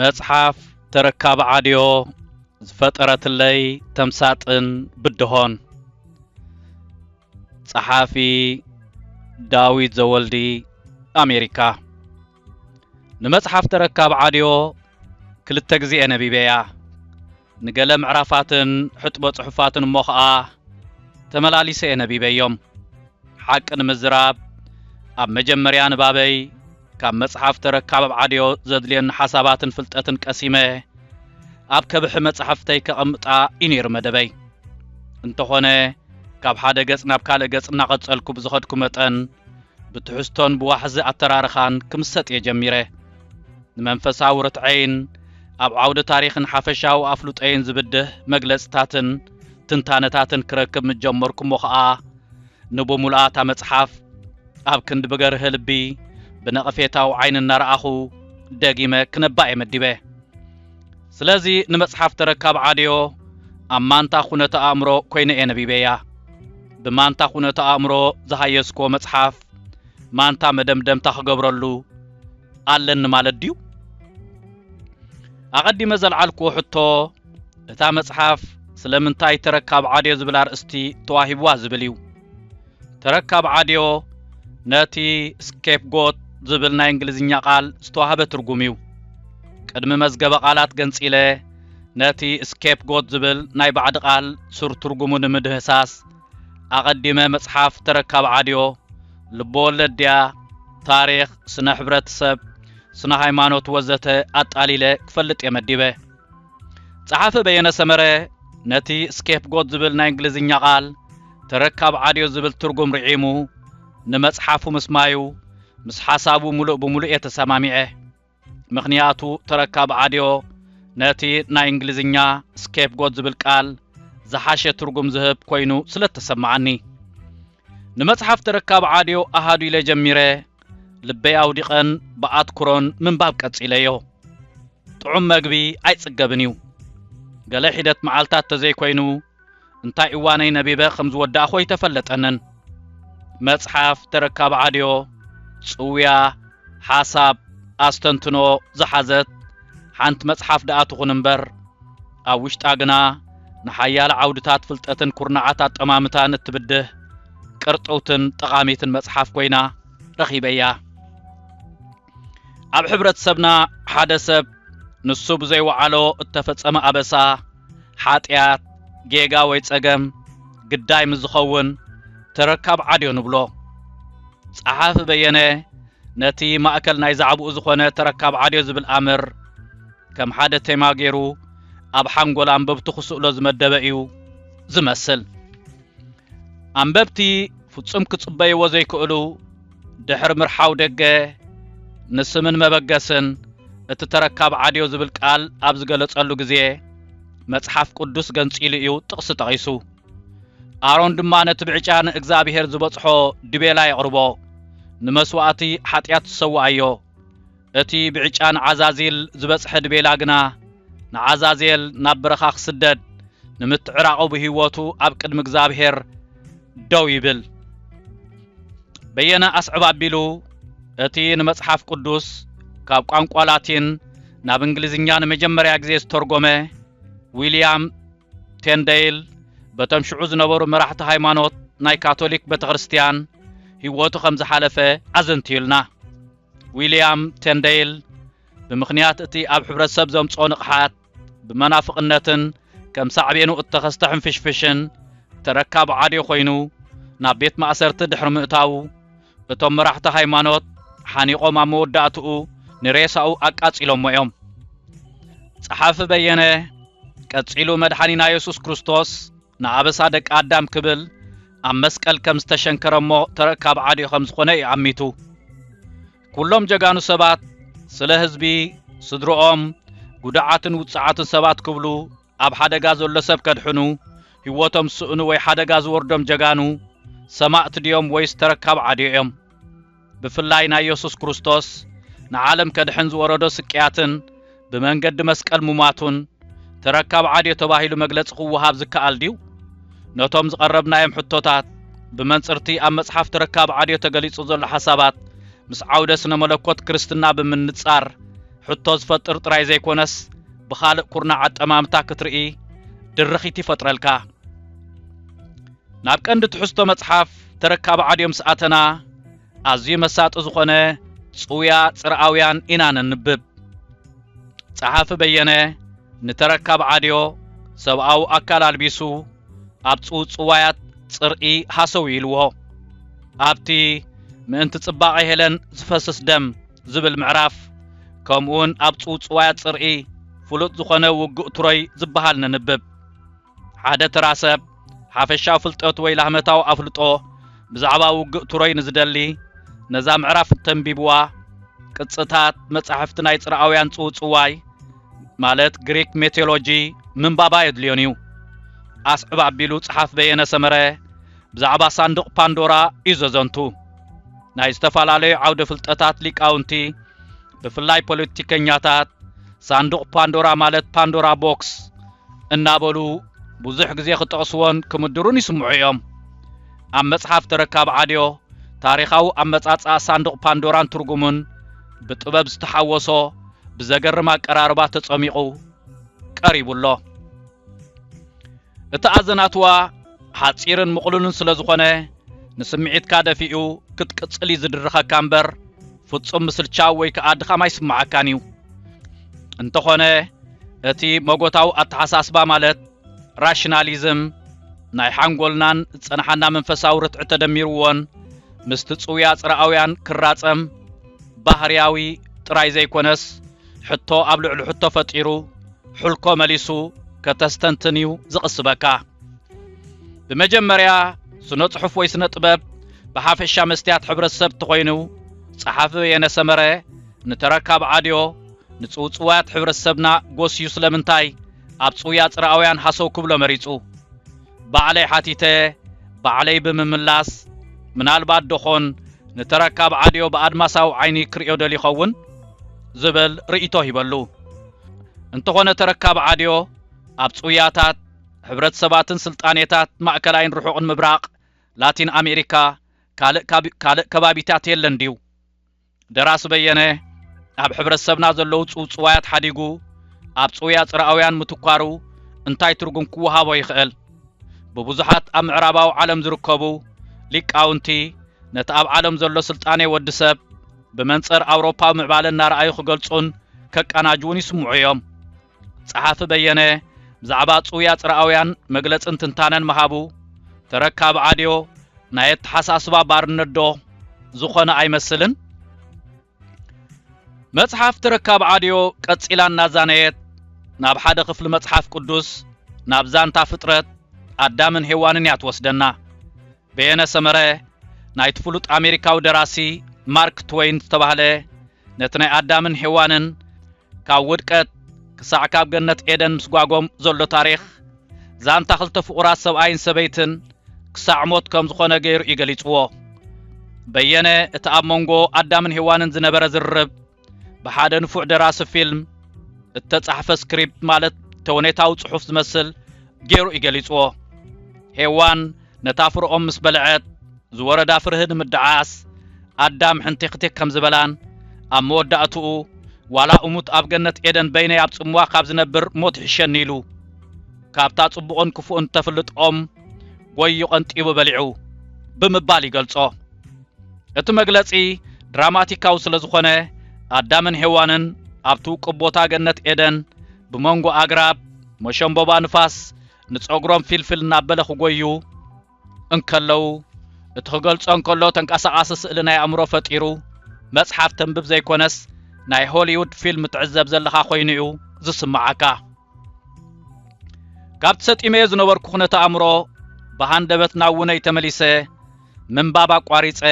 መጽሓፍ ተረካቢ ዓድዮ ዝፈጠረትለይ ተምሳጥን ብድሆን ጸሓፊ ዳዊት ዘወልዲ ኣሜሪካ ንመጽሓፍ ተረካብ ዓድዮ ክልተ ግዜ'የ ነቢበያ። ንገለ ምዕራፋትን ሕጥቦ ጽሑፋትን እሞ ኸኣ ተመላሊሰ'የ ነቢበዮም። ሓቂ ንምዝራብ ኣብ መጀመርያ ንባበይ ካብ መጽሓፍ ተረካብ ዓድዮ ዘድልዮኒ ሓሳባትን ፍልጠትን ቀሲመ ኣብ ከብሒ መጻሕፍተይ ከቐምጣ እዩ ነይሩ መደበይ። እንተኾነ ካብ ሓደ ገጽ ናብ ካልእ ገጽ እናቐጸልኩ ብዝኸድኩ መጠን ብትሕዝቶን ብዋሕዚ ኣተራርኻን ክምሰጥ እየ ጀሚረ። ንመንፈሳዊ ርትዐይን ኣብ ዓውደ ታሪኽን ሓፈሻዊ ኣፍልጦይን ዝብድህ መግለጽታትን ትንታነታትን ክረክብ ምስ ጀመርኩ እሞ ኸኣ ንብምሉኣ እታ መጽሓፍ ኣብ ክንዲ ብገርህ ልቢ ብነቐፌታዊ ዓይኒ እናረኣኹ ደጊመ ክነባ እየ መዲበ። ስለዚ ንመጽሓፍ ተረካብ ዓድዮ ኣብ ማንታ ኩነተ ኣእምሮ ኮይነ እየ ነቢበያ። ብማንታ ኩነተ ኣእምሮ ዝሃየስክዎ መጽሓፍ ማንታ መደምደምታ ክገብረሉ ኣለኒ ማለት ድዩ? ኣቐዲመ ዘልዓልክዎ ሕቶ እታ መጽሓፍ ስለምንታይ ተረካብ ዓድዮ ዝብል ኣርእስቲ ተዋሂብዋ ዝብል እዩ። ተረካብ ዓድዮ ነቲ ስኬፕጎት ዝብል ናይ እንግሊዝኛ ቃል ዝተዋህበ ትርጉም እዩ። ቅድሚ መዝገበ ቃላት ገንጺለ ነቲ ስኬፕጎት ዝብል ናይ ባዕዲ ቃል ሱር ትርጉሙ ንምድህሳስ ኣቐዲመ መጽሓፍ ተረካብ ዓድዮ፣ ልበወለድ ድያ፣ ታሪኽ፣ ስነ ሕብረትሰብ፣ ስነ ሃይማኖት ወዘተ ኣጣሊለ ክፈልጥ እየ መዲበ። ጸሓፊ በየነ ሰመረ ነቲ ስኬፕጎት ዝብል ናይ እንግሊዝኛ ቃል ተረካብ ዓድዮ ዝብል ትርጉም ርዒሙ ንመጽሓፉ ምስማዩ ምስ ሓሳቡ ምሉእ ብምሉእ እየ ተሰማሚዐ። ምኽንያቱ ተረካብ ዓድዮ ነቲ ናይ እንግሊዝኛ ስኬፕጎት ዝብል ቃል ዝሓሸ ትርጉም ዝህብ ኮይኑ ስለ እተሰምዓኒ። ንመጽሓፍ ተረካብ ዓድዮ ኣሃዱ ኢለ ጀሚረ ልበይ ኣውዲቐን ብኣትኩሮን ምንባብ ቀጺለዮ። ጥዑም መግቢ ኣይጽገብን እዩ። ገለ ሒደት መዓልታት ተዘይኮይኑ እንታይ እዋነይ ነቢበ ከም ዝወዳእኹ ኣይተፈለጠንን። መጽሓፍ ተረካብ ዓድዮ፣ ጽውያ፣ ሓሳብ፣ ኣስተንትኖ ዝሓዘት ሓንቲ መጽሓፍ ደኣ ትኹን እምበር፣ ኣብ ውሽጣ ግና ንሓያለ ዓውድታት ፍልጠትን ኩርናዓት ኣጠማምታን እትብድህ ቅርጥውትን ጠቓሚትን መጽሓፍ ኮይና ረኺበያ። ኣብ ሕብረተሰብና ሓደ ሰብ ንሱ ብዘይወዓሎ እተፈጸመ ኣበሳ፣ ሓጢኣት፣ ጌጋ ወይ ጸገም ግዳይ ምስ ዝኸውን ተረካብ ዓድዮ ንብሎ። ጸሓፊ በየነ ነቲ ማእከል ናይ ዛዕባኡ ዝኾነ ተረካብ ዓድዮ ዝብል ኣምር ከም ሓደ ቴማ ገይሩ ኣብ ሓንጎል ኣንበብቱ ክስእሎ ዝመደበ እዩ ዝመስል። ኣንበብቲ ፍጹም ክጽበይዎ ዘይክእሉ ድሕሪ ምርሓው ደገ ንስምን መበገስን እቲ ተረካብ ዓድዮ ዝብል ቃል ኣብ ዝገለጸሉ ግዜ መጽሓፍ ቅዱስ ገንጺሉ እዩ ጥቕሲ ጠቒሱ። ኣሮን ድማ ነቲ ብዕጫ ንእግዚኣብሄር ዝበጽሖ ድቤላ የቕርቦ፣ ንመስዋእቲ ሓጢኣት ዝሰውኣዮ፣ እቲ ብዕጫ ንዓዛዜል ዝበጽሐ ድቤላ ግና፣ ንዓዛዜል ናብ በረኻ ክስደድ፣ ንምትዕራቑ ብህይወቱ ኣብ ቅድሚ እግዚኣብሔር ደው ይብል። በየነ ኣስዕብ ኣቢሉ እቲ ንመጽሓፍ ቅዱስ ካብ ቋንቋ ላቲን ናብ እንግሊዝኛ ንመጀመርያ ግዜ ዝተርጎመ ዊልያም ቴንደይል በቶም ሽዑ ዝነበሩ መራሕቲ ሃይማኖት ናይ ካቶሊክ ቤተ ክርስትያን ህይወቱ ከም ዝሓለፈ ኣዘንትዩልና። ዊልያም ቴንደይል ብምኽንያት እቲ ኣብ ሕብረተሰብ ዘምጽኦ ንቕሓት ብመናፍቕነትን ከም ሳዕቤኑ እተኸስተ ሕንፍሽፍሽን ተረካቢ ዓድዮ ኮይኑ ናብ ቤት ማእሰርቲ ድሕሪ ምእታዉ እቶም መራሕቲ ሃይማኖት ሓኒቖም ኣብ መወዳእትኡ ንሬሳኡ ኣቃጺሎሞ እዮም። ጸሓፊ በየነ ቀጺሉ መድሓኒና የሱስ ክርስቶስ ንኣበሳ ደቂ ኣዳም ክብል ኣብ መስቀል ከም ዝተሸንከረ እሞ ተረካብ ዓድዩ ከም ዝኾነ እዩ ኣሚቱ። ኩሎም ጀጋኑ ሰባት ስለ ህዝቢ፣ ስድርኦም፣ ጉዱዓትን ውጹዓትን ሰባት ክብሉ ኣብ ሓደጋ ዘሎ ሰብ ከድሕኑ ህይወቶም ዝስእኑ ወይ ሓደጋ ዝወርዶም ጀጋኑ፣ ሰማእት፣ ድዮም ወይስ ተረካብ ዓድዮ እዮም? ብፍላይ ናይ የሱስ ክርስቶስ ንዓለም ከድሕን ዝወረዶ ስቅያትን ብመንገዲ መስቀል ምሟቱን ተረካብ ዓድዮ ተባሂሉ መግለጺ ክወሃብ ዝከኣል ድዩ? ነቶም ዝቐረብናዮም ሕቶታት ብመንጽር'ቲ ኣብ መጽሓፍ ተረካብ ዓድዮ ተገሊጹ ዘሎ ሓሳባት ምስ ዓውደ ስነ መለኮት ክርስትና ብምንጻር ሕቶ ዝፈጥር ጥራይ ዘይኮነስ ብኻልእ ኩርናዕ ኣጠማምታ ክትርኢ ድርኺት ይፈጥረልካ። ናብ ቀንዲ ትሕዝቶ መጽሓፍ ተረካቢ ዓድዮ ምስ ኣተና፣ ኣዝዩ መሳጢ ዝኾነ ጽውያ ጽርኣውያን ኢና ነንብብ። ጸሓፊ በየነ ንተረካቢ ዓድዮ ሰብኣዊ ኣካል ኣልቢሱ ኣብ ጽውጽዋያት ጽርኢ ሃሰው ኢልዎ። ኣብቲ ምእንቲ ጽባቐ ሄለን ዝፈስስ ደም ዝብል ምዕራፍ ከምኡውን ኣብ ጽውጽዋያት ጽርኢ ፍሉጥ ዝኾነ ውግእ ቱሮይ ዝበሃል ነንብብ። ሓደ ተራ ሰብ ሓፈሻዊ ፍልጠት ወይ ላህመታዊ ኣፍልጦ ብዛዕባ ውግእ ትሮይ ንዝደሊ ነዛ ምዕራፍ እንተንቢብዋ ቅጽታት መጻሕፍቲ ናይ ጽርኣውያን ጽውጽዋይ ማለት ግሪክ ሜቴሎጂ ምንባባ የድልዮን እዩ ኣስዕብ ኣቢሉ ጸሓፍ በየነ ሰመረ ብዛዕባ ሳንዱቕ ፓንዶራ እዩ ዘዘንቱ ናይ ዝተፈላለዩ ዓውደ ፍልጠታት ሊቃውንቲ ብፍላይ ፖለቲከኛታት ሳንዱቕ ፓንዶራ ማለት ፓንዶራ ቦክስ እናበሉ ብዙሕ ግዜ ክጠቕስዎን ክምድሩን ይስምዑ እዮም ኣብ መጽሓፍ ተረካብ ዓድዮ ታሪኻዊ ኣመጻጽኣ ሳንዱቕ ፓንዶራን ትርጉሙን ብጥበብ ዝተሓወሶ ብዘገርም ኣቀራርባ ተጸሚቑ ቀሪቡ ኣሎ እቲ ኣዘናትዋ ሓጺርን ምቕሉልን ስለ ዝኾነ ንስምዒትካ ደፊኡ ክትቅጽል እዩ ዝድርኸካ እምበር ፍጹም ምስልቻው ወይ ከኣ ድኻም ኣይስምዓካን እዩ። እንተኾነ እቲ መጎታዊ ኣተሓሳስባ ማለት ራሽናሊዝም ናይ ሓንጎልናን ዝጸንሓና መንፈሳዊ ርትዒ ተደሚርዎን ምስቲ ጽውያ ጽርኣውያን ክራጸም ባህርያዊ ጥራይ ዘይኮነስ ሕቶ ኣብ ልዕሊ ሕቶ ፈጢሩ ሑልኮ መሊሱ ከተስተንትን እዩ ዝቕስበካ። ብመጀመርያ ስነ ጽሑፍ ወይ ስነ ጥበብ ብሓፈሻ መስትያት ሕብረተሰብ እንተኾይኑ ጸሓፊ በየነ ሰመረ ንተረካብ ዓድዮ ንጽውጽዋያት ሕብረተሰብና ጎስዩ ስለምንታይ ኣብ ጽውያ ጽርኣውያን ሃሰው ክብሎ መሪጹ? ባዕለይ ሓቲተ ባዕለይ ብምምላስ፣ ምናልባት ዶኾን ንተረካብ ዓድዮ ብኣድማሳዊ ዓይኒ ክርእዮ ደልዩ ይኸውን? ዝብል ርእይቶ ሂበሉ። እንተኾነ ተረካብ ዓድዮ ኣብ ጽውያታት፣ ሕብረተሰባትን ስልጣኔታት ማእከላይን ርሑቕን ምብራቕ፣ ላቲን ኣሜሪካ፣ ካልእ ካልእ ከባቢታት የለን ድዩ? ደራሲ በየነ ኣብ ሕብረተሰብና ዘለዉ ጽውጽዋያት ሓዲጉ ኣብ ጽውያ ጽርኣውያን ምትኳሩ እንታይ ትርጉም ክወሃቦ ይኽእል? ብብዙሓት ኣብ ምዕራባዊ ዓለም ዝርከቡ ሊቃውንቲ ነቲ ኣብ ዓለም ዘሎ ስልጣኔ ወዲ ሰብ ብመንጽር ኣውሮፓዊ ምዕባለ እናረኣዩ ክገልጹን ከቃናጅዉን ይስምዑ እዮም። ጸሓፊ በየነ ብዛዕባ ጽውያ ጽርኣውያን መግለጽን ትንታነን ምሃቡ ተረካቢ ዓድዮ ናይ ኣተሓሳስባ ባርነት ዶ ዝኾነ ኣይመስልን? መጽሓፍ ተረካቢ ዓድዮ ቀጺላ እናዛነየት ናብ ሓደ ክፍሊ መጽሓፍ ቅዱስ ናብ ዛንታ ፍጥረት ኣዳምን ሄዋንን እያ ትወስደና። በየነ ሰመረ፣ ናይቲ ፍሉጥ ኣሜሪካዊ ደራሲ ማርክ ትወይን ዝተባህለ፣ ነቲ ናይ ኣዳምን ሄዋንን ካብ ውድቀት ክሳዕ ካብ ገነት ኤደን ምስጓጎም ዘሎ ታሪኽ፣ ዛንታ ክልተ ፍቑራት ሰብኣይን ሰበይትን ክሳዕ ሞት ከም ዝዀነ ገይሩ እዩ ገሊጽዎ። በየነ፣ እቲ ኣብ መንጎ ኣዳምን ሄዋንን ዝነበረ ዝርርብ፣ ብሓደ ንፉዕ ደራሲ ፊልም እተጻሕፈ ስክሪፕት ማለት ተውኔታዊ ጽሑፍ ዝመስል ገይሩ እዩ ገሊጽዎ። ሄዋን ነታ ፍረኦም ምስ በልዐት ዝወረዳ ፍርሂ ንምድዓስ ኣዳም ሕንቲኽቲኽ ከም ዝበላን ኣብ መወዳእትኡ ዋላ እሙት ኣብ ገነት ኤደን በይነይ ኣብ ጽምዋ ካብ ዝነብር ሞት ይሕሸኒ ኢሉ ካብታ ጽቡቕን ክፉእን ተፍልጦም ጎዩ ቀንጢቡ በሊዑ ብምባል ይገልጾ። እቲ መግለጺ ድራማቲካዊ ስለ ዝኾነ ኣዳምን ሔዋንን ኣብቲ ውቅብ ቦታ ገነት ኤደን ብመንጎ ኣግራብ መሸምቦባ ንፋስ ንጸጉሮም ፊልፍል እናበለ ክጎዩ እንከለው እቲ ክገልጾ እንከሎ ተንቀሳቓሲ ስእሊ ናይ ኣእምሮ ፈጢሩ መጽሓፍ ተንብብ ዘይኮነስ ናይ ሆሊውድ ፊልም ትዕዘብ ዘለኻ ኮይኑ እዩ ዝስምዓካ ካብ ተሰጢመዮ ዝነበርኩ ኩነተ ኣእምሮ ብሃንደበት ናብ ውነይ ተመሊሰ ምንባብ ኣቋሪጸ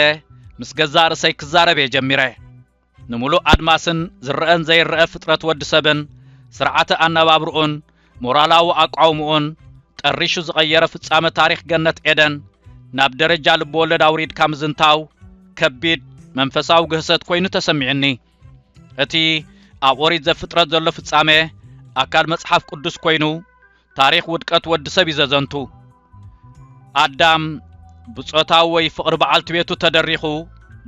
ምስ ገዛእ ርእሰይ ክዛረብ እየ ጀሚረ ንምሉእ ኣድማስን ዝረአን ዘይረአ ፍጥረት ወዲ ሰብን ስርዓተ ኣነባብርኡን ሞራላዊ ኣቋውምኡን ጠሪሹ ዝቐየረ ፍጻመ ታሪኽ ገነት ኤደን ናብ ደረጃ ልብወለድ ኣውሪድካ ምዝንታው ከቢድ መንፈሳዊ ግህሰት ኮይኑ ተሰሚዑኒ እቲ ኣብ ኦሪት ዘፍጥረት ዘሎ ፍጻመ ኣካል መጽሓፍ ቅዱስ ኮይኑ ታሪኽ ውድቀት ወዲ ሰብ እዩ ዘዘንቱ። ኣዳም ብጾታዊ ወይ ፍቕሪ በዓልቲ ቤቱ ተደሪኹ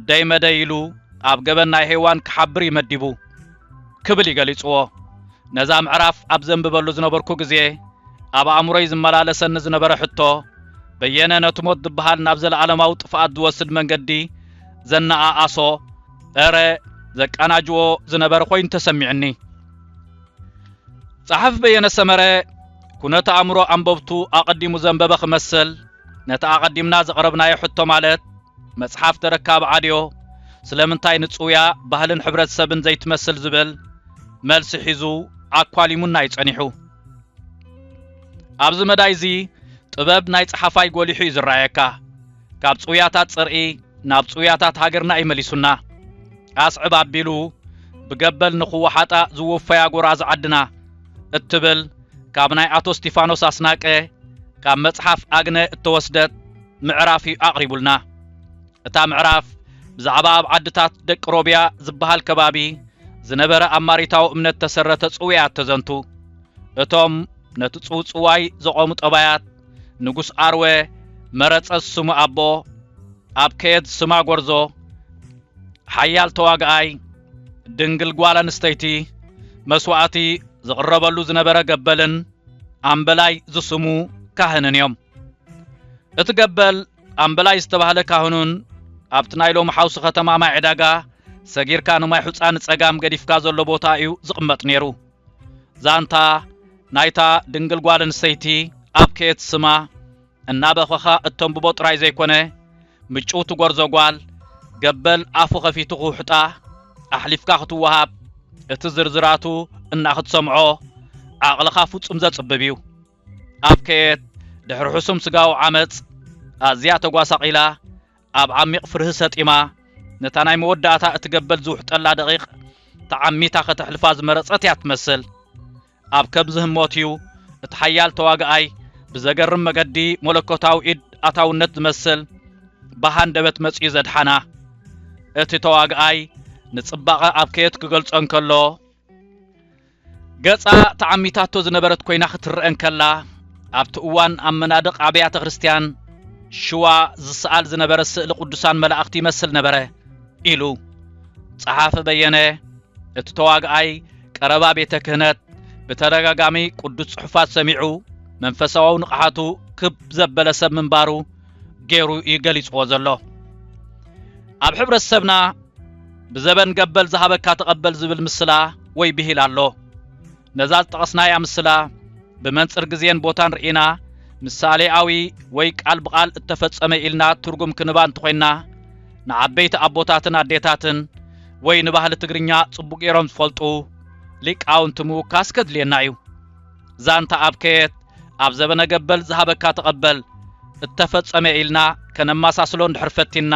ደይ መደይ ኢሉ ኣብ ገበን ናይ ሄዋን ክሓብር እዩ መዲቡ ክብል እዩ ገሊጽዎ። ነዛ ምዕራፍ ኣብ ዘንብበሉ ዝነበርኩ ግዜ ኣብ ኣእምሮይ ዝመላለሰኒ ዝነበረ ሕቶ በየነ ነቲ ሞት ዝበሃል ናብ ዘለኣለማዊ ጥፍኣት ዝወስድ መንገዲ ዘነኣኣሶ እረ ዘቃናጅዎ ዝነበረ ኮይኑ ተሰሚዕኒ ጸሓፊ በየነ ሰመረ ኩነተ ኣእምሮ ኣንበብቱ ኣቐዲሙ ዘንበበ ክመስል ነቲ ኣቐዲምና ዘቕረብናዮ ሕቶ ማለት መጽሓፍ ተረካብ ዓድዮ ስለምንታይ ንጽውያ ባህልን ሕብረተሰብን ዘይትመስል ዝብል መልሲ ሒዙ ኣኳሊሙና እዩ ጸኒሑ ኣብዚ መዳይ እዚ ጥበብ ናይ ጸሓፋይ ጎሊሑ እዩ ዝረኣየካ ካብ ጽውያታት ጽርኢ ናብ ጽውያታት ሃገርና እዩ መሊሱና። ኣስዕብ ኣቢሉ ብገበል ንኽወሓጣ ዝወፈያ ጎራዙ ዓድና እትብል ካብ ናይ ኣቶ እስቲፋኖስ ኣስናቀ ካብ መጽሓፍ ኣግነ እተወስደት ምዕራፍ እዩ ኣቕሪቡልና። እታ ምዕራፍ ብዛዕባ ኣብ ዓድታት ደቂ ሮብያ ዝበሃል ከባቢ ዝነበረ ኣማሪታዊ እምነት ተሰረተ ጽውያት ተዘንቱ። እቶም ነቲ ጽውጽዋይ ዘቖሙ ጠባያት ንጉስ ኣርወ መረጸዝ ስሙ ኣቦ ኣብ ከየት ስማ ጎርዞ ሓያል ተዋግኣይ ድንግል ጓል ኣንስተይቲ መስዋእቲ ዝቕረበሉ ዝነበረ ገበልን ኣምበላይ ዝስሙ ካህንን እዮም እቲ ገበል ኣምበላይ ዝተባህለ ካህኑን ኣብቲ ናይ ሎም ሓውሲ ከተማ ማይ ዕዳጋ ሰጊርካ ንማይ ሑፃ ንፀጋም ገዲፍካ ዘሎ ቦታ እዩ ዝቕመጥ ነይሩ ዛንታ ናይታ ድንግል ጓል ኣንስተይቲ ኣብ ከየት ስማ እናበኸኻ እተንብቦ ጥራይ ዘይኮነ ምጭውቲ ጐርዞ ጓል ገበል ኣፉ ኸፊቱ ክውሕጣ ኣሕሊፍካ ክትወሃብ እቲ ዝርዝራቱ እናክትሰምዖ ዓቕልኻ ፍጹም ዘጽብብ እዩ ኣብ ከየት ድሕሪ ሕሱም ስጋዊ ዓመጽ ኣዝያ ተጓሳቒላ ኣብ ዓሚቕ ፍርሂ ሰጢማ፣ ነታ ናይ መወዳእታ እትገበል ዝውሕጠላ ደቒቕ ተዓሚታ ከተሕልፋ ዝመረጸት እያ እትመስል። ኣብ ከምዚ ህሞት እዩ፣ እቲ ሓያል ተዋጋኣይ ብዘገርም መገዲ መለኮታዊ ኢድ ኣታውነት ዝመስል ብሃንደበት መጺኡ ዘድሓና። እቲ ተዋጋኣይ ንጽባቐ ኣብ ከየት ክገልጾ እንከሎ፣ ገጻ ተዓሚታቶ ዝነበረት ኮይና ክትረአ እንከላ፣ ኣብቲ እዋን ኣብ መናድቕ ኣብያተ ክርስትያን ሽዋ ዝሰኣል ዝነበረ ስእሊ ቅዱሳን መላእኽቲ ይመስል ነበረ ኢሉ ጸሓፊ በየነ፣ እቲ ተዋግኣይ ቀረባ ቤተ ክህነት ብተደጋጋሚ ቅዱስ ጽሑፋት ሰሚዑ መንፈሳዊ ንቕሓቱ ክብ ዘበለ ሰብ ምንባሩ ገይሩ እዩ ገሊጽዎ ዘሎ ኣብ ሕብረተሰብና ብዘበን ገበል ዝሃበካ ተቐበል ዝብል ምስላ ወይ ብሂል ኣሎ ነዛ ዝጠቐስናያ ምስላ ብመንጽር ግዜን ቦታን ርኢና ምሳሌኣዊ ወይ ቃል ብቓል እተፈጸመ ኢልና ትርጉም ክንባ እንተኾይንና ንዓበይቲ ኣቦታትን ኣዴታትን ወይ ንባህሊ ትግርኛ ጽቡቕ ገይሮም ዝፈልጡ ሊቃውንቲ ምውካስ ከድልየና እዩ ዛንታ ኣብ ከየት ኣብ ዘበነ ገበል ዝሃበካ ተቐበል እተፈጸመ ኢልና ከነማሳስሎ እንድሕር ፈቲንና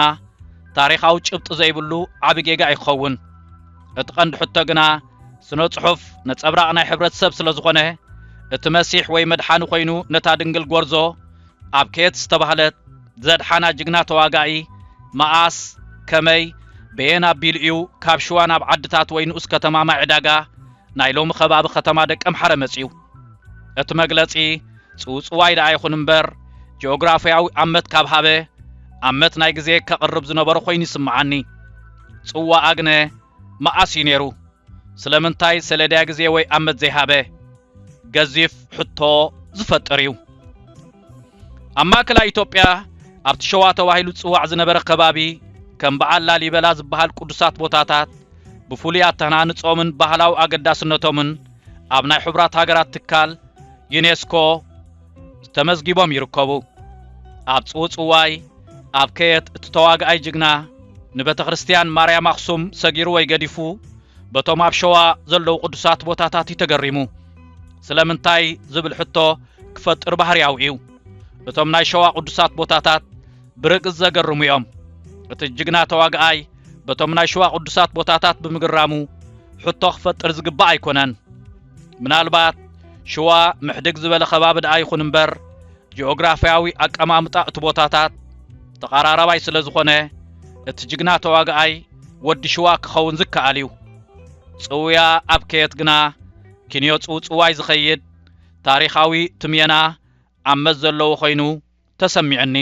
ታሪኻዊ ጭብጢ ዘይብሉ ዓቢ ጌጋ እዩ ክኸውን። እቲ ቀንዲ ሕቶ ግና ስነ ጽሑፍ ነጸብራቕ ናይ ሕብረተሰብ ስለ ዝኾነ እቲ መሲሕ ወይ መድሓኒ ኮይኑ ነታ ድንግል ጎርዞ ኣብ ከየት ዝተባህለት ዘድሓና ጅግና ተዋጋኢ መኣስ ከመይ በየን ኣቢሉ እዩ ካብ ሽዋ ናብ ዓድታት ወይ ንኡስ ከተማ ማይ ዕዳጋ ናይ ሎሚ ከባቢ ከተማ ደቀምሓረ መጺኡ። እቲ መግለጺ ጽውጽዋይ ደኣ ይኹን እምበር ጂኦግራፍያዊ ኣመት ካብ ሃበ ኣመት ናይ ግዜ ከቕርብ ዝነበሮ ኮይኑ ይስምዓኒ። ጽዋኣ ግነ መኣስ እዩ ነይሩ? ስለምንታይ ሰሌዳ ግዜ ወይ ኣመት ዘይሃበ? ገዚፍ ሕቶ ዝፈጥር እዩ። ኣብ ማእከላይ ኢትዮጵያ ኣብቲ ሸዋ ተባሂሉ ዝጽዋዕ ዝነበረ ከባቢ ከም በዓል ላሊበላ ዝበሃል ቅዱሳት ቦታታት ብፍሉይ ኣተሃናንጾምን ባህላዊ ኣገዳስነቶምን ኣብ ናይ ሕቡራት ሃገራት ትካል ዩኔስኮ ተመዝጊቦም ይርከቡ። ኣብ ጽውጽዋይ ኣብ ከየት እቲ ተዋጋኣይ ጅግና ንቤተ ክርስትያን ማርያም ኣኽሱም ሰጊሩ ወይ ገዲፉ በቶም ኣብ ሸዋ ዘለዉ ቅዱሳት ቦታታት እዩ ተገሪሙ። ስለምንታይ ዝብል ሕቶ ክፈጥር ባህርያዊ እዩ። እቶም ናይ ሸዋ ቅዱሳት ቦታታት ብርግጽ ዘገርሙ እዮም። እቲ ጅግና ተዋግኣይ በቶም ናይ ሸዋ ቅዱሳት ቦታታት ብምግራሙ ሕቶ ክፈጥር ዝግባእ ኣይኮነን። ምናልባት ሽዋ ምሕድግ ዝበለ ከባቢ ደኣ ይኹን እምበር ጂኦግራፍያዊ ኣቀማምጣ እቲ ቦታታት ተቐራራባይ ስለ ዝኾነ እቲ ጅግና ተዋግኣይ ወዲ ሽዋ ክኸውን ዝከኣል እዩ። ጽውያ ኣብ ከየት ግና ኪንዮ ጽውጽዋይ ዝኸይድ ታሪኻዊ ትምየና ኣብ መዝ ዘለዎ ኮይኑ ተሰሚዑኒ።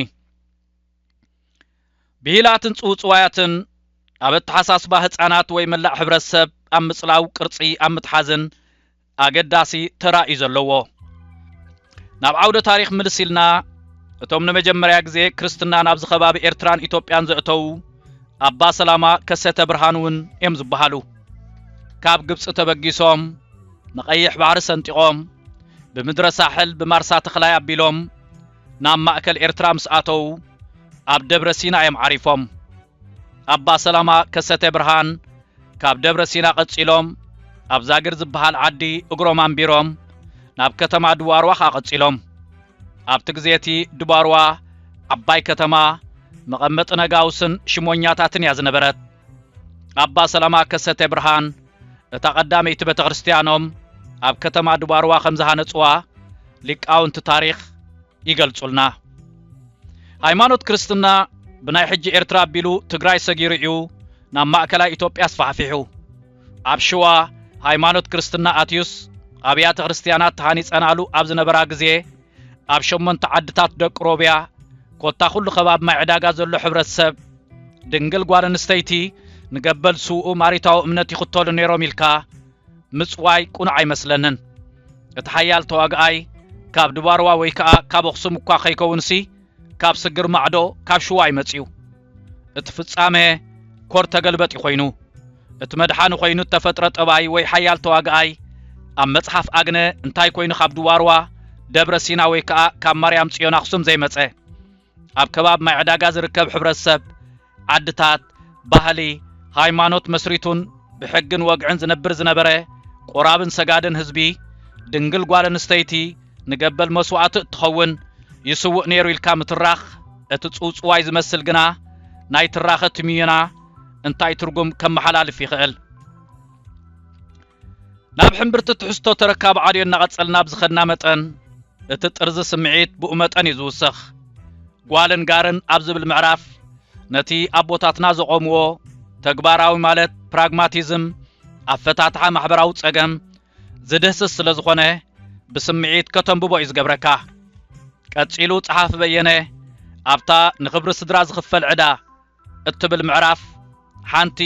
ብሂላትን ጽውጽዋያትን ኣብ ኣተሓሳስባ ህጻናት ወይ መላእ ሕብረተሰብ ኣብ ምጽላው ቅርጺ ኣብ ምትሓዝን ኣገዳሲ ተራ እዩ ዘለዎ። ናብ ዓውደ ታሪኽ ምልስ ኢልና እቶም ንመጀመርያ ግዜ ክርስትና ናብዚ ከባቢ ኤርትራን ኢትዮጵያን ዘእተዉ ኣባ ሰላማ ከሰተ ብርሃን እውን እዮም ዝበሃሉ። ካብ ግብፂ ተበጊሶም ንቀይሕ ባሕሪ ሰንጢቆም ብምድረ ሳሕል ብማርሳ ተኽላይ ኣቢሎም ናብ ማእከል ኤርትራ ምስ ኣተዉ ኣብ ደብረ ሲና እዮም ዓሪፎም። ኣባ ሰላማ ከሰተ ብርሃን ካብ ደብረ ሲና ቀጺሎም ኣብ ዛግር ዝበሃል ዓዲ እግሮም ኣንቢሮም ናብ ከተማ ድዋርዋ ከኣ ቀጺሎም። ኣብቲ ግዜ እቲ ድባርዋ ዓባይ ከተማ መቐመጢ ነጋውስን ሽሞኛታትን እያ ዝነበረት። ኣባ ሰላማ ከሰተ ብርሃን እታ ቀዳመይቲ ቤተ ክርስቲያኖም ኣብ ከተማ ድባርዋ ከም ዝሃነጽዋ ሊቃውንቲ ታሪኽ ይገልጹልና። ሃይማኖት ክርስትና ብናይ ሕጂ ኤርትራ ኣቢሉ ትግራይ ሰጊሩ እዩ ናብ ማእከላይ ኢትዮጵያ ኣስፋሕፊሑ። ኣብ ሽዋ ሃይማኖት ክርስትና ኣትዩስ ኣብያተ ክርስቲያናት ተሃኒጸናሉ ኣብ ዝነበራ ግዜ ኣብ ሸሞንተ ዓድታት ደቂ ሮብያ ኮታ ኩሉ ከባቢ ማይ ዕዳጋ ዘሎ ሕብረተሰብ ድንግል ጓል ኣንስተይቲ ንገበል ስውኡ ማሪታዊ እምነት ይኽተሉ ነይሮም ኢልካ ምጽዋይ ቁኑዕ ኣይመስለንን እቲ ሓያል ተዋግኣይ ካብ ድባርዋ ወይ ከኣ ካብ ኣኽሱም እኳ ከይከውንሲ ካብ ስግር ማዕዶ ካብ ሽዋ እዩ መጺኡ እቲ ፍጻመ ኮር ተገልበጢ ኮይኑ እቲ መድሓኒ ኮይኑ እተፈጥረ ጠባይ ወይ ሓያል ተዋግኣይ ኣብ መጽሓፍ ኣግነ እንታይ ኮይኑ ካብ ድዋርዋ ደብረ ሲና ወይ ከኣ ካብ ማርያም ጽዮን ኣኽሱም ዘይመጸ ኣብ ከባቢ ማይ ዕዳጋ ዝርከብ ሕብረተሰብ ዓድታት ባህሊ ሃይማኖት መስሪቱን ብሕግን ወግዕን ዝነብር ዝነበረ ቆራብን ሰጋድን ህዝቢ ድንግል ጓል ኣንስተይቲ ንገበል መስዋእቲ እትኸውን ይስውእ ነይሩ ኢልካ ምትራኽ እቲ ጽውጽዋይ ዝመስል ግና ናይ ትራኸ ትምዩና እንታይ ትርጉም ከመሓላልፍ ይኽእል? ናብ ሕምብርቲ ትሕዝቶ ተረካብ ዓልዮ እናቐጸልና ብዝኸድና መጠን እቲ ጥርዚ ስምዒት ብኡ መጠን እዩ ዝውሰኽ። ጓልን ጋርን ኣብ ዝብል ምዕራፍ ነቲ ኣቦታትና ዘቖምዎ ተግባራዊ ማለት ፕራግማቲዝም ኣፈታትሓ ማሕበራዊ ጸገም ዝድህስስ ስለ ዝኾነ ብስምዒት ከተንብቦ እዩ ዝገብረካ። ቀጺሉ ጸሓፊ በየነ ኣብታ ንኽብሪ ስድራ ዝኽፈል ዕዳ እትብል ምዕራፍ ሓንቲ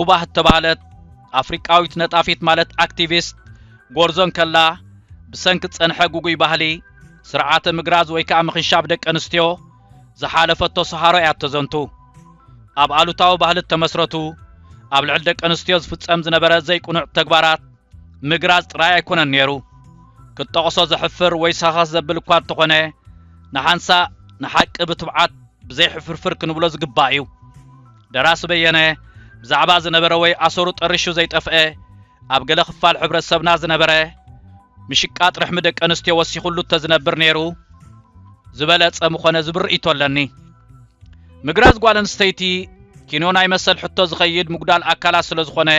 ኡባህ እተባህለት ኣፍሪቃዊት ነጣፊት ማለት ኣክቲቪስት ጎርዞ እንከላ ብሰንኪ ዝጸንሐ ጉጉይ ባህሊ ስርዓተ ምግራዝ ወይ ከኣ ምኽንሻብ ደቂ ኣንስትዮ ዝሓለፈቶ ሰሃሮ እያ እተዘንቱ። ኣብ ኣሉታዊ ባህሊ እተመስረቱ፣ ኣብ ልዕሊ ደቂ ኣንስትዮ ዝፍጸም ዝነበረ ዘይቅኑዕ ተግባራት ምግራጽ ጥራይ ኣይኰነን ነይሩ። ክትጠቕሶ ዘሕፍር ወይ ሰኸኽ ዘብል እኳ እንተዀነ፣ ንሓንሳእ ንሓቂ ብትብዓት ብዘይ ሕፍርፍር ክንብሎ ዝግባእ እዩ። ደራሲ በየነ ብዛዕባ ዝነበረ ወይ ኣሰሩ ጠሪሹ ዘይጠፍኤ ኣብ ገለ ክፋል ሕብረተሰብና ዝነበረ ምሽቃጥ ርሕሚ ደቂ ኣንስትዮ ወሲኹሉ እተዝነብር ነይሩ ዝበለጸ ምኾነ ዝብል ርእይቶ ኣለኒ። ምግራዝ ጓል ኣንስተይቲ ኪኖ ናይ መሰል ሕቶ ዝኸይድ ምጉዳል ኣካላት ስለዝኾነ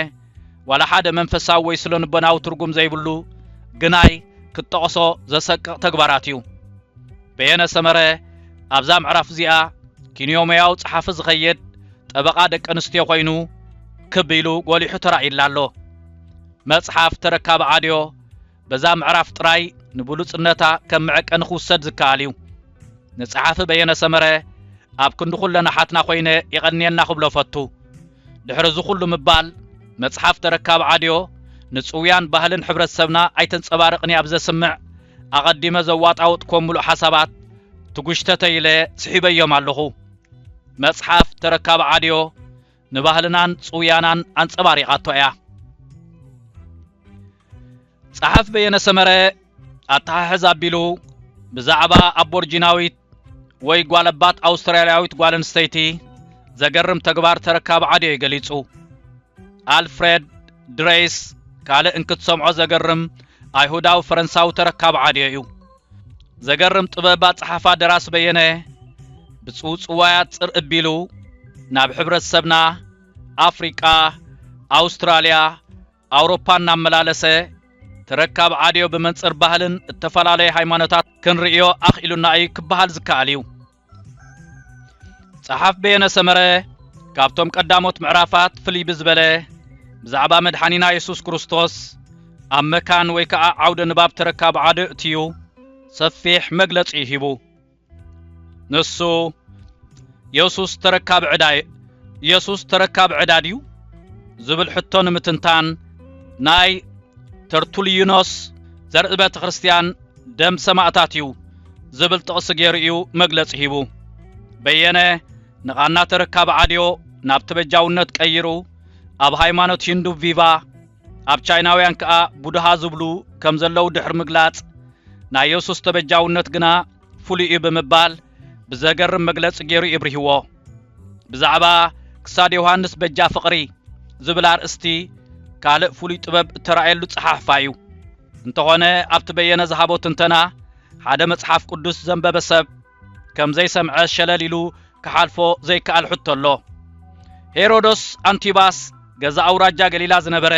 ዋላ ሓደ መንፈሳዊ ወይ ስሎንቦናዊ ትርጉም ዘይብሉ ግናይ ክትጠቕሶ ዘሰቅቕ ተግባራት እዩ። በየነ ሰመረ ኣብዛ ምዕራፍ እዚኣ ኪንዮሞያዊ ጸሓፊ ዝኸየድ ጠበቓ ደቂ ኣንስትዮ ኮይኑ ክብ ኢሉ ጎሊሑ ተራእዩላ ኣሎ። መጽሓፍ ተረካቢ ኣድዮ በዛ ምዕራፍ ጥራይ ንብሉጽነታ ከም መዐቀኒ ክውሰድ ዝከኣል እዩ። ንጸሓፊ በየነ ሰመረ ኣብ ክንዲ ኩለን ኣሓትና ኮይነ የቐንየና ክብሎ እፈቱ። ድሕሪ እዚ ኩሉ ምባል፣ መጽሓፍ ተረካቢ ዓድዮ ንጽውያን ባህልን ሕብረተሰብና ኣይተንጸባርቕን እያ ብዘስምዕ ኣቐዲመ ዘዋጣውጥኮም ምሉእ ሓሳባት ትጉሽተተይ ኢለ ስሒበዮም ኣለኹ። መጽሓፍ ተረካቢ ዓድዮ ንባህልናን ጽውያናን ኣንጸባሪቓቶ እያ። ጸሓፍ በየነ ሰመረ ኣተሓሕዝ ኣቢሉ ብዛዕባ ኣቦርጂናዊት ወይ ጓለባት ኣውስትራልያዊት ጓል ኣንስተይቲ ዘገርም ተግባር ተረካቢ ዓድዮ እዩ ገሊጹ። ኣልፍሬድ ድሬይስ ካልእ እንክትሰምዖ ዘገርም ኣይሁዳዊ ፈረንሳዊ ተረካቢ ዓድዮ እዩ። ዘገርም ጥበብ ኣጸሓፋ ደራሲ በየነ ብጽውጽዋያት ጽር እቢሉ ናብ ሕብረተሰብና ኣፍሪቃ፣ ኣውስትራልያ፣ ኣውሮፓ እናመላለሰ ተረካብ ዓድዮ ብመንጽር ባህልን እተፈላለዩ ሃይማኖታት ክንርእዮ ኣኽኢሉና እዩ ክበሃል ዝከኣል እዩ። ጸሓፍ በየነ ሰመረ ካብቶም ቀዳሞት ምዕራፋት ፍልይ ብዝበለ ብዛዕባ መድሓኒና የሱስ ክርስቶስ ኣብ መካን ወይ ከዓ ዓውደ ንባብ ተረካብ ዓደ እትዩ ሰፊሕ መግለጺ ሂቡ ንሱ የሱስ ተረካብ ዕዳ የሱስ ተረካብ ዕዳ ድዩ ዝብል ሕቶ ንምትንታን ናይ ተርቱልዩኖስ ዘርኢ ቤተ ክርስቲያን ደም ሰማእታት እዩ ዝብል ጥቕሲ ገይሩ እዩ መግለጺ ሂቡ። በየነ ንቓና ተረካቢ ዓድዮ ናብ ተበጃውነት ቀይሩ ኣብ ሃይማኖት ሂንዱ ቪቫ ኣብ ቻይናውያን ከኣ ቡድሃ ዝብሉ ከም ዘለዉ ድሕሪ ምግላጽ ናይ የሱስ ተበጃውነት ግና ፍሉይ እዩ ብምባል ብዘገርም መግለጺ ገይሩ ይብርህዎ ብዛዕባ ክሳድ ዮሃንስ በጃ ፍቕሪ ዝብል ኣርእስቲ ካልእ ፍሉይ ጥበብ እተራእየሉ ጸሓሕፋ እዩ። እንተኾነ ኣብቲ በየነ ዝሃቦ ትንተና ሓደ መጽሓፍ ቅዱስ ዘንበበ ሰብ ከም ዘይሰምዐ ሸለል ኢሉ ክሓልፎ ዘይከኣል ሕቶ ኣሎ። ሄሮዶስ ኣንቲባስ ገዛ ኣውራጃ ገሊላ ዝነበረ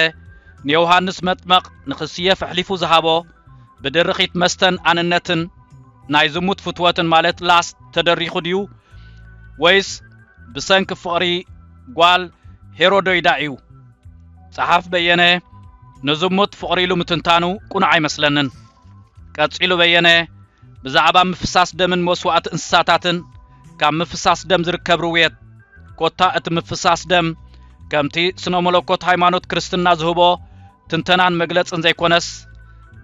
ንዮሃንስ መጥመቕ ንክስየፍ ኣሕሊፉ ዝሃቦ ብድርኺት መስተን ኣንነትን ናይ ዝሙት ፍትወትን ማለት ላስ ተደሪኹ ድዩ ወይስ ብሰንኪ ፍቕሪ ጓል ሄሮዶይዳ እዩ? ጸሓፍ በየነ ንዝሙት ፍቕሪ ኢሉ ምትንታኑ ቁኑዕ ኣይመስለንን። ቀጺሉ በየነ ብዛዕባ ምፍሳስ ደምን መስዋእቲ እንስሳታትን ካብ ምፍሳስ ደም ዝርከብ ርውየት ኮታ እቲ ምፍሳስ ደም ከምቲ ስነ መለኮት ሃይማኖት ክርስትና ዝህቦ ትንተናን መግለጽን ዘይኮነስ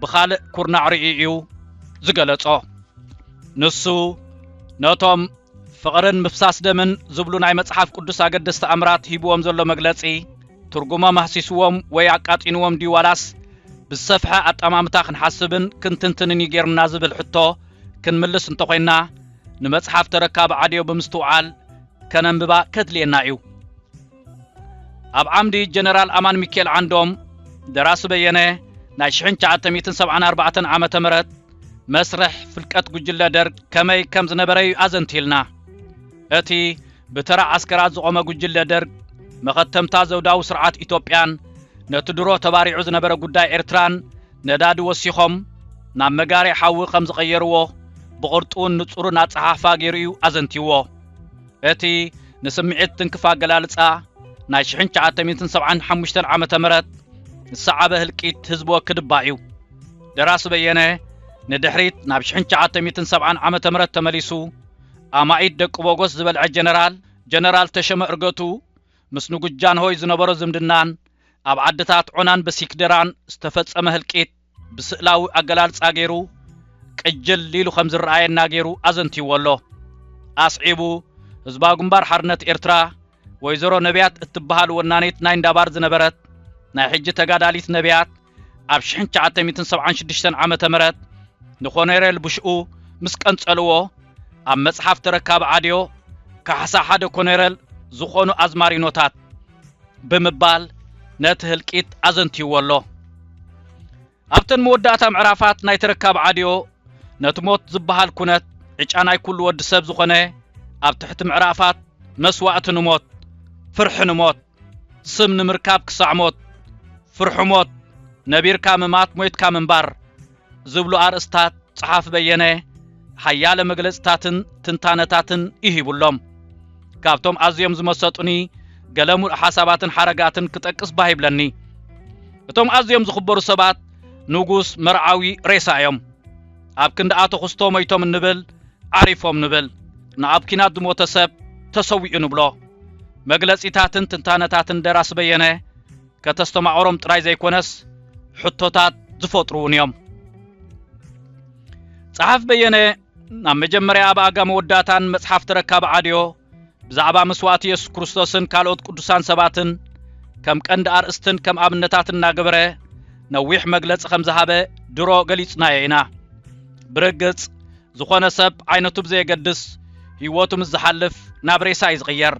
ብኻልእ ኩርናዕ ርእዩ እዩ ዝገለጾ ንሱ ነቶም ፍቕርን ምፍሳስ ደምን ዝብሉ ናይ መጽሓፍ ቅዱስ ኣገደስቲ ኣምራት ሂብዎም ዘሎ መግለጺ፣ ትርጉሞም ኣህሲስዎም ወይ ኣቃጢንዎም ድዩ ዋላስ ብዝሰፍሐ ኣጠማምታ ክንሓስብን ክንትንትንን እዩ ገይሩና ዝብል ሕቶ ክንምልስ እንተኾይንና ንመጽሓፍ ተረካቢ ዓድዮ ብምስትውዓል ከነንብባ ከድልየና እዩ። ኣብ ዓምዲ ጀነራል ኣማን ሚካኤል ዓንዶም ደራሲ በየነ ናይ 1974 ዓ ም መስርሕ ፍልቀት ጉጅለ ደርግ ከመይ ከም ዝነበረ እዩ ኣዘንቲልና እቲ ብተራ ዓስከራት ዝቖመ ጉጅለ ደርግ መኸተምታ ዘውዳዊ ስርዓት ኢትዮጵያን ነቲ ድሮ ተባሪዑ ዝነበረ ጉዳይ ኤርትራን ነዳዲ ወሲኾም ናብ መጋሪ ሓዊ ከም ዝቐየርዎ ብቕርጡውን ንጹርን ኣጸሓሕፋ ገይሩ እዩ ኣዘንቲዎ እቲ ንስምዒት ትንክፍ ኣገላልጻ ናይ ሽሕን ትሽዓተ ሚእትን ሰብዓን ሓሙሽተን ዓመተ ምህረት ዝሰዓበ ህልቂት ህዝቢ ወክድባ እዩ። ደራሲ በየነ ንድሕሪት ናብ ሽሕን ትሽዓተ ሚእትን ሰብዓን ዓመተ ምህረት ተመሊሱ ኣማኢት ደቂ ቦጎስ ዝበልዐ ጀነራል ጀነራል ተሸመ እርገቱ ምስ ንጉስ ጃንሆይ ዝነበሮ ዝምድናን ኣብ ዓድታት ዖናን በሲክደራን ዝተፈጸመ ህልቂት ብስእላዊ ኣገላልጻ ገይሩ ቅጅል ኢሉ ከም ዝረኣየና ገይሩ ኣዘንትይዎ ኣሎ። ኣስዒቡ ህዝባዊ ግንባር ሓርነት ኤርትራ ወይዘሮ ነብያት እትበሃል ወናኒት ናይ እንዳባር ዝነበረት ናይ ሕጂ ተጋዳሊት ነብያት ኣብ ሽሕን ትሽዓተ ሚእትን ሰብዓን ሽዱሽተን ዓመተ ምህረት ንኮኔሬል ቡሽኡ ምስ ቀንጸልዎ ኣብ መጽሓፍ ተረካቢ ዓድዮ ካሕሳ ሓደ ኮኔረል ዝኾኑ ኣዝማሪኖታት ብምባል ነቲ ህልቂት ኣዘንትይዎ ኣሎ። ኣብተን መወዳእታ ምዕራፋት ናይ ተረካብ ዓድዮ ነቲ ሞት ዝበሃል ኩነት ዕጫ ናይ ኩሉ ወዲ ሰብ ዝኾነ ኣብ ትሕቲ ምዕራፋት መስዋእቲ ንሞት፣ ፍርሒ ንሞት፣ ስም ንምርካብ ክሳዕ ሞት፣ ፍርሑ ሞት፣ ነቢርካ ምማት ሞይትካ ምንባር፣ ዝብሉ ኣርእስታት ጸሓፊ በየነ ሓያለ መግለጽታትን ትንታነታትን ይሂቡሎም ካብቶም ኣዝዮም ዝመሰጡኒ ገለ ሙሉእ ሓሳባትን ሓረጋትን ክጠቅስ ባህ ይብለኒ እቶም ኣዝዮም ዝኽበሩ ሰባት ንጉስ መርዓዊ ሬሳ እዮም ኣብ ክንዲ ኣቶ ክስቶ ሞይቶም እንብል ዓሪፎም ንብል ንኣብ ኪናት ዝሞተ ሰብ ተሰዊኡ ንብሎ መግለጺታትን ትንታነታትን ደራሲ በየነ ከተስተማቕሮም ጥራይ ዘይኮነስ ሕቶታት ዝፈጥሩውን እዮም። ጸሓፍ በየነ ናብ መጀመርያ ኣብ ኣጋ መወዳእታን መጽሓፍ ተረካብ ዓድዮ ብዛዕባ መስዋእቲ የሱስ ክርስቶስን ካልኦት ቅዱሳን ሰባትን ከም ቀንዲ ኣርእስትን ከም ኣብነታት እናገበረ ነዊሕ መግለጺ ከም ዝሃበ ድሮ ገሊጽናዮ ኢና። ብርግጽ ዝኾነ ሰብ ዓይነቱ ብዘየገድስ ህይወቱ ምስ ዝሓልፍ ናብ ሬሳ እዩ ዝቕየር።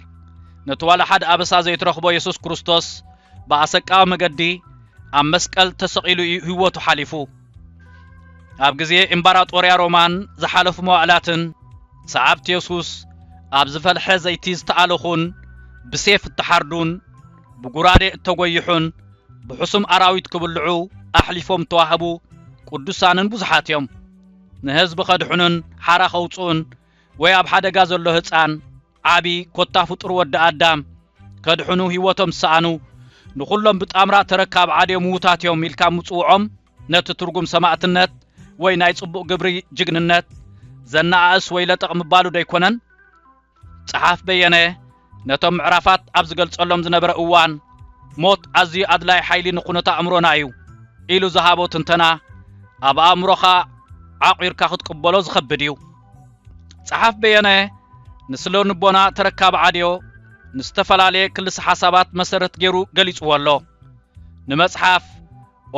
ነቲ ዋላ ሓደ ኣበሳ ዘይትረኽቦ የሱስ ክርስቶስ ብኣሰቃዊ መገዲ ኣብ መስቀል ተሰቒሉ እዩ ህይወቱ ሓሊፉ። ኣብ ግዜ እምባራጦርያ ሮማን ዝሓለፉ መዋእላትን ሰዓብቲ የሱስ ኣብ ዝፈልሐ ዘይቲ ዝተኣለኹን ብሴፍ እተሓርዱን ብጉራዴ እተጐይሑን ብሕሱም ኣራዊት ክብልዑ ኣሕሊፎም እተዋህቡ ቅዱሳንን ብዙሓት እዮም። ንህዝቢ ከድሕኑን ሓራ ከውጽኡን ወይ ኣብ ሓደጋ ዘሎ ህጻን፣ ዓቢ ኮታ ፍጡር ወዲ ኣዳም ከድሕኑ ህይወቶም ዝሰኣኑ ንኹሎም ብጣምራ ተረካብ ዓድዮ ምዉታት እዮም ኢልካ ምጽውዖም ነቲ ትርጉም ሰማእትነት ወይ ናይ ጽቡቕ ግብሪ ጅግንነት ዘነኣእስ ወይ ለጠቕ ምባሉ ዶ ኣይኮነን? ጸሓፍ በየነ ነቶም ምዕራፋት ኣብ ዝገልጸሎም ዝነበረ እዋን ሞት ኣዝዩ ኣድላይ ሓይሊ ንኩነት ኣእምሮና እዩ ኢሉ ዝሃቦ ትንተና ኣብ ኣእምሮኻ ዓቑርካ ክትቅበሎ ዝኸብድ እዩ። ጸሓፍ በየነ ንስለ ንቦና ተረካቢ ዓድዮ ንዝተፈላለየ ክልሰ ሓሳባት መሰረት ገይሩ ገሊጽዎ ኣሎ። ንመጽሓፍ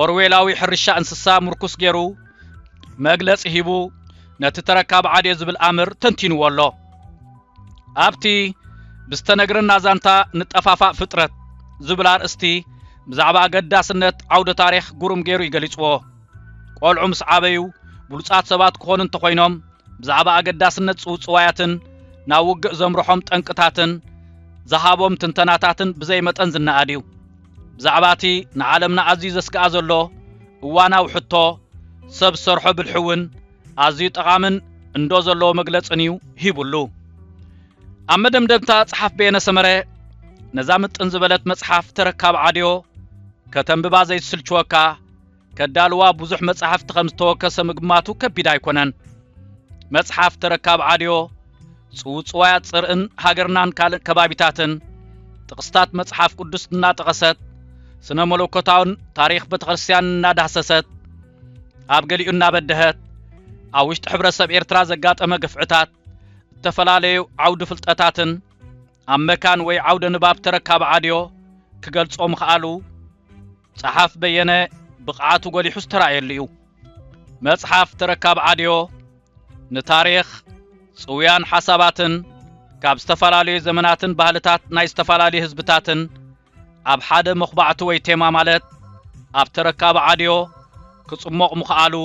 ኦርዌላዊ ሕርሻ እንስሳ ምርኩስ ገይሩ መግለጺ ሂቡ ነቲ ተረካብ ዓዴ ዝብል ኣምር ተንቲንዎ ኣሎ። ኣብቲ ብዝተነግረና ዛንታ ንጠፋፋእ ፍጥረት ዝብል ኣርእስቲ ብዛዕባ ኣገዳስነት ዓውደ ታሪኽ ጉሩም ገይሩ እዩ ገሊጽዎ። ቆልዑ ምስ ዓበዩ ብሉጻት ሰባት ክኾኑ እንተኾይኖም ብዛዕባ ኣገዳስነት ጽውጽዋያትን ናብ ውግእ ዘምርሖም ጠንቅታትን ዝሃቦም ትንተናታትን ብዘይ መጠን ዝነኣድ እዩ። ብዛዕባ እቲ ንዓለምና ኣዝዩ ዘስግኣ ዘሎ እዋናዊ ሕቶ ሰብ ዝሰርሖ ብልሒ እውን ኣዝዩ ጠቓምን እንዶ ዘለዎ መግለጽን እዩ ሂቡሉ። ኣብ መደምደምታ ጸሓፍ በየነ ሰመረ ነዛ ምጥን ዝበለት መጽሓፍ ተረካብ ዓድዮ ከተንብባ ዘይትስልችወካ ከዳልዋ ብዙሕ መጻሕፍቲ ከም ዝተወከሰ ምግማቱ ከቢድ ኣይኮነን። መጽሓፍ ተረካብ ዓድዮ፣ ጽውጽዋያት ጽርእን ሃገርናን ካልእ ከባቢታትን፣ ጥቕስታት መጽሓፍ ቅዱስ እናጠቐሰት፣ ስነ መለኮታውን ታሪኽ ቤተ ክርስቲያን እናዳህሰሰት፣ ኣብ ገሊኡ እናበደሀት፣ ኣብ ውሽጢ ሕብረተሰብ ኤርትራ ዘጋጠመ ግፍዕታት፣ እተፈላለዩ ዓውዲ ፍልጠታትን ኣብ መካን ወይ ዓውደ ንባብ ተረካብ ዓድዮ ክገልጾ ምኽኣሉ ጸሓፍ በየነ ብቕዓቱ ጎሊሑ ዝተራእየሉ እዩ። መጽሓፍ ተረካብ ዓድዮ ንታሪኽ፣ ጽውያን ሓሳባትን ካብ ዝተፈላለዩ ዘመናትን ባህልታት ናይ ዝተፈላለዩ ህዝብታትን ኣብ ሓደ መኹባዕቲ ወይ ቴማ ማለት ኣብ ተረካብ ዓድዮ ክጽሞቕ ምኽኣሉ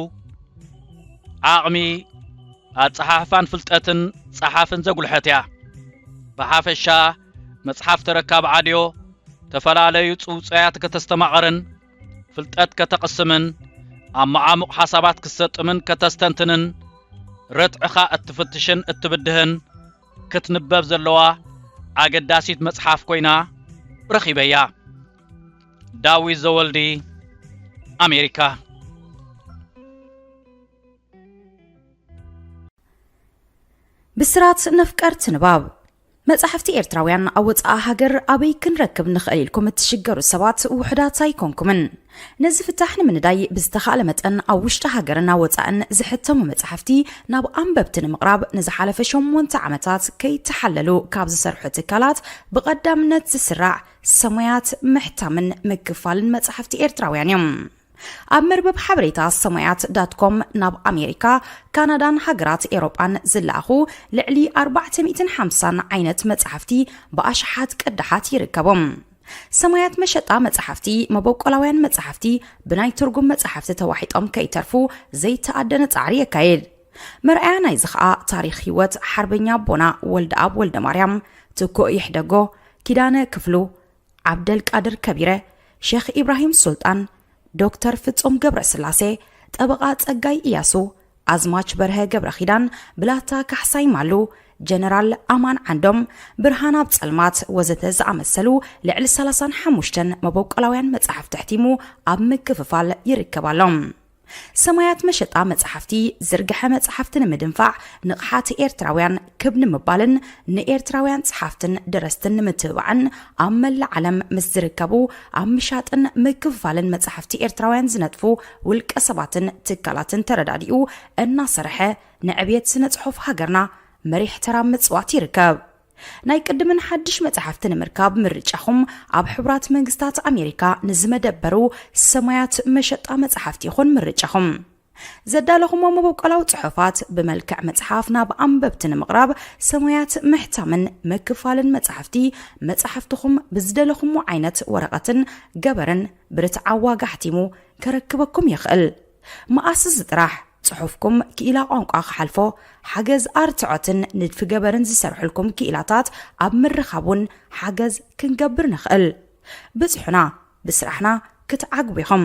ዓቕሚ ኣጸሓሕፋን ፍልጠትን ጸሓፍን ዘጉልሐት እያ። ብሓፈሻ መጽሓፍ ተረካብ ዓድዮ ተፈላለዩ ጽውጽያት ከተስተማቐርን ፍልጠት ከተቕስምን ኣብ መዓሙቕ ሓሳባት ክትሰጥምን ከተስተንትንን ረትዕኻ እትፍትሽን እትብድህን ክትንበብ ዘለዋ ኣገዳሲት መጽሓፍ ኮይና ረኺበያ። ዳዊት ዘወልዲ ኣሜሪካ ብስራት ነፍቀርቲ ንባብ መጻሕፍቲ ኤርትራውያን ኣብ ወጻኢ ሃገር ኣበይ ክንረክብ ንኽእል ኢልኩም እትሽገሩ ሰባት ውሑዳት ኣይኮንኩምን። ነዚ ፍታሕ ንምንዳይ ብዝተኻእለ መጠን ኣብ ውሽጢ ሃገርን ኣብ ወጻእን ዝሕተሙ መጻሕፍቲ ናብ ኣንበብቲ ንምቕራብ ንዝሓለፈ ሸሞንተ ዓመታት ከይተሓለሉ ካብ ዝሰርሑ ትካላት ብቐዳምነት ዝስራዕ ሰሙያት ምሕታምን ምክፋልን መጻሕፍቲ ኤርትራውያን እዮም። ኣብ መርበብ ሓበሬታ ሰማያት ዳትኮም ናብ ኣሜሪካ ካናዳን ሃገራት ኤሮጳን ዝለኣኹ ልዕሊ 450 ዓይነት መጻሕፍቲ ብኣሽሓት ቅዳሓት ይርከቦም ሰማያት መሸጣ መጻሕፍቲ መበቆላውያን መጻሕፍቲ ብናይ ትርጉም መጻሕፍቲ ተዋሒጦም ከይተርፉ ዘይተኣደነ ጻዕሪ የካየድ መርኣያ ናይዚ ኸኣ ታሪክ ህይወት ሓርበኛ ኣቦና ወልደኣብ ወልደ ማርያም ትኮእ ይሕደጎ ኪዳነ ክፍሉ ዓብደል ቃድር ከቢረ፣ ሸኽ ኢብራሂም ሱልጣን፣ ዶክተር ፍጹም ገብረ ስላሴ፣ ጠበቓ ጸጋይ እያሱ፣ ኣዝማች በርሀ ገብረ ኪዳን፣ ብላታ ካሕሳይ ማሉ፣ ጀነራል ኣማን ዓንዶም፣ ብርሃናብ ጸልማት ወዘተ ዝኣመሰሉ ልዕሊ ሰላሳን ሓሙሽተን መበቆላውያን መጻሕፍቲ ኣሕቲሙ ኣብ ምክፍፋል ይርከብ ኣሎ። ሰማያት መሸጣ መጽሓፍቲ ዝርግሐ መጽሓፍቲ ንምድንፋዕ ንቕሓት ኤርትራውያን ክብ ንምባልን ንኤርትራውያን ጸሓፍትን ደረስትን ንምትብባዕን ኣብ መላእ ዓለም ምስ ዝርከቡ ኣብ ምሻጥን ምክፍፋልን መጽሓፍቲ ኤርትራውያን ዝነጥፉ ውልቀ ሰባትን ትካላትን ተረዳዲኡ እናሰርሐ ንዕብየት ስነ ጽሑፍ ሃገርና መሪሕ ተራ ምጽዋት ይርከብ። ናይ ቅድምን ሓድሽ መጻሕፍቲ ንምርካብ ምርጫኹም ኣብ ሕቡራት መንግስታት ኣሜሪካ ንዝመደበሩ ሰማያት መሸጣ መጻሕፍቲ ይኹን ምርጫኹም። ዘዳለኹሞ መበቆላዊ ጽሑፋት ብመልክዕ መጽሓፍ ናብ ኣንበብቲ ንምቕራብ ሰማያት ምሕታምን ምክፋልን መጻሕፍቲ መጻሕፍትኹም ብዝደለኹሞ ዓይነት ወረቐትን ገበርን ብርትዓዊ ዋጋ ኣሕቲሙ ከረክበኩም ይኽእል። መኣስ እዚ ጥራሕ ጽሑፍኩም ክኢላ ቋንቋ ክሓልፎ ሓገዝ ኣርትዖትን ንድፊ ገበርን ዝሰርሕልኩም ክኢላታት ኣብ ምርኻብ እውን ሓገዝ ክንገብር ንኽእል ብጽሑና ብስራሕና ክትዓግቡ ኢኹም